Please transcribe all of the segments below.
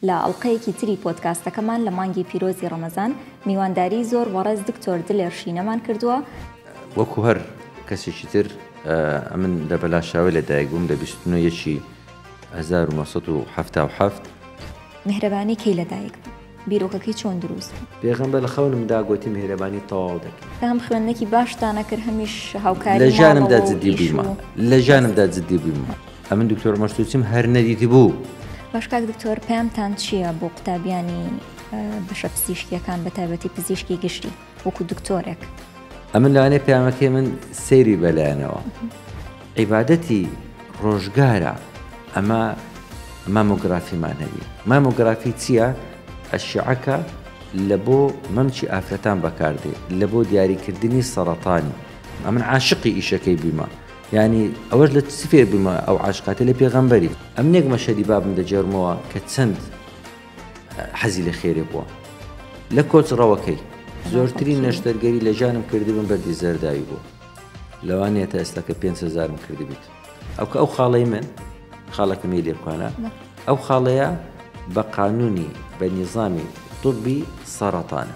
لە ئەڵقەیەکی تری پۆدکاستەکەمان لە مانگی پیرۆزی ڕەمەزان میوانداریی زۆر وەڕێز دکتۆر دلێر شینەمان کردووە، وەکو هەر کەسێکی تر ئەمن لە بەلاشاوێ لە دایک بووم لە بیست و نۆ یەکی هەزار و نۆ سەد و حەفتا و حەفت. میهرەبانی کەی لە دایک بوو؟ بیرۆکەکەی چۆن دروست بوو؟ پێغەمبەر لە خەونم دا گۆتی میهرەبانی تەواو دەکەی. کە هەم خوێندنەکی باشتان ئەکرد هەمیش هاوکاری ماڵەوە و ئیش و. لە ژیانمدا جدی بوویمە. ئەمن دکتۆر مەرسوچم هەر نەدیتی بوو. باش کاک دکتۆر پامتان چییە بۆ قوتابیانی بەشە پزیشکیەکان بە تایبەتی پزیشکی گشتی وەکو دکتۆرێک ئەمن لەوانێ پامەکەی من سەیری بەلایەنەوە عیبادەتی ڕۆژگارە ئەمە مامۆگرافیمان هەبی مامۆگرافی چییە ئەشعەکە لە بۆ مەمچی ئافرەتان بەکاردێ لە بۆ دیاریکردنی سەرەتانی ئەمن عاشقی ئیشەکەی بیمە یانی ئەوەش لە چ فێر بوویمە ئەو عاشقاتە لە پێغەمبەری. ئەمنێک مەشهەدی بابم دەگێڕمەوە کە چەند حەزی لە خێرێ بووە لە کۆچ ڕەوەکەی. زۆرترین نەشتەرگەری لە ژیانم کردبم بەردی زەرداوی بوو لەوانەیە تا ئێستا کە پێنج هەزارم کردبیت ئەو کە ئەو خاڵەی من خاڵەکە مێ لێ بکانە ئەو خاڵەیە بە قانونی بە نیزامی طبی سەرەتانە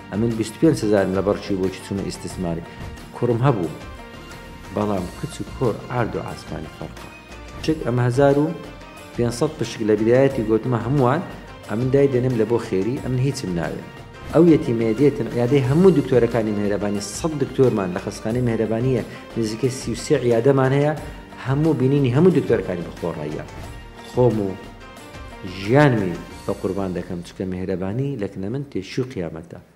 ئەمن بیست و پێنج هەزارم لەبەڕ چوو بۆچی چوومە ئیستسماری کوڕم هەبوو بەڵام کچ و کۆر عارد و عاسمانی فەرقە چک ئەمە هەزار و پێنج سەد پشک لە برایەتی گۆتمە هەمووان ئەمن دای دەنێم لە بۆ خێری ئەمن هیچم ناوێ ئەو یەتیمەیە دێتن عیادەی هەموو دکتۆرەکانی مێهرەبانی سەد دکتۆرمان لە خەستخانەی مێهرەبانییە نزیکەی سی و سێ عیادەمان هەیە هەموو بینینی هەموو دکتۆرەکانی بەخۆڕاییە خۆم و ژیانمی بە قوربان دەکەم چکە مێهرەبانی لەکنە من تێشوی قیامەتە